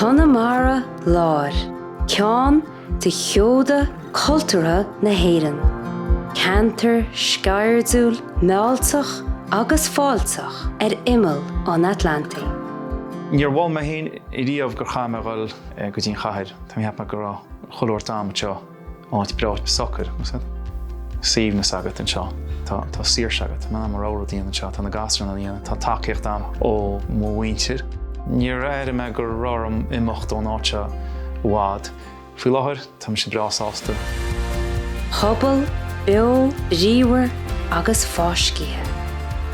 Conamara Láir, ceann de sheoda cultúrtha na hÉireann. Ceantar sceirdiúil mealltach agus fáilteach ar imeall an Atlantaigh. Níor shíl mé féin riamh go gcaithfinn a dhul go dtí an chathair. Tá mé ag ceapadh go bhfuil chuile shórt ann anseo. Áit breá socair is tá suaimhneas agat anseo. Tá tá saoirse agat. Níl muid ródhian anseo. Tá na gasúir ag déanamh. Tá tacaíocht ann ó mo mhuintir. Níor airigh mé go raibh orm imeacht ón áit seo i bhfad. Faoi láthair tá mise breá sásta. Pobal beo bríomhar agus fáiscithe.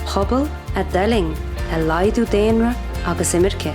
Pobal a d'fhulaing laghdú daonra agus imirce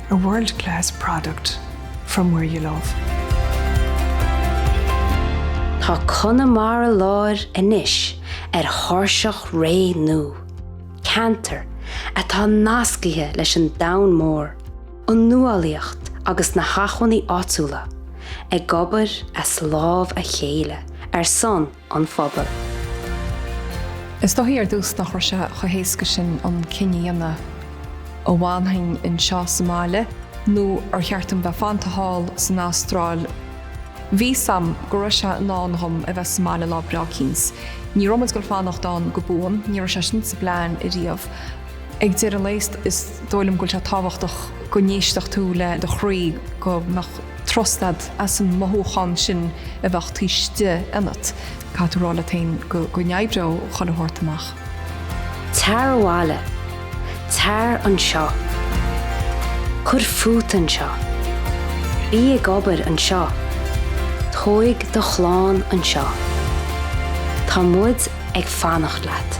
A world class product from where you love. Tá Conamara Láir anois ar thairseach ré nua, ceantar atá nascaithe leis an domhan mór, an nuálaíocht agus na hacmhainní áitiúla, ag obair as lámha a chéile ar son an phobail. Is dóigh ar dtús nach raibh sé chomh héasca sin an cinneadh a dhéanamh, an bhfanfainn anseo sa mbaile nó ar cheart dom bheith fanta thall san Astráil. Bhí a fhios agam go raibh sé i ndán dhom a bheith sa mbaile lá breá eicínt. Ní raibh muid ag goil ag fanacht ann go buan, ní raibh sé sin sa bplean riamh. Ag deireadh lae is dóigh liom go bhfuil sé tábhachtach go n-éistfeadh tú le do chroí, go mbeadh trust agat as an mothúchán sin a bheadh taobh istigh ionat. Caithfidh tú rá leat féin go n-oibreoidh chuile shórt amach. Tar abhaile. Tar anseo. Cuir fút anseo. Bí ag obair anseo. Tóig do chlann anseo. Tá muid ag fanacht leat.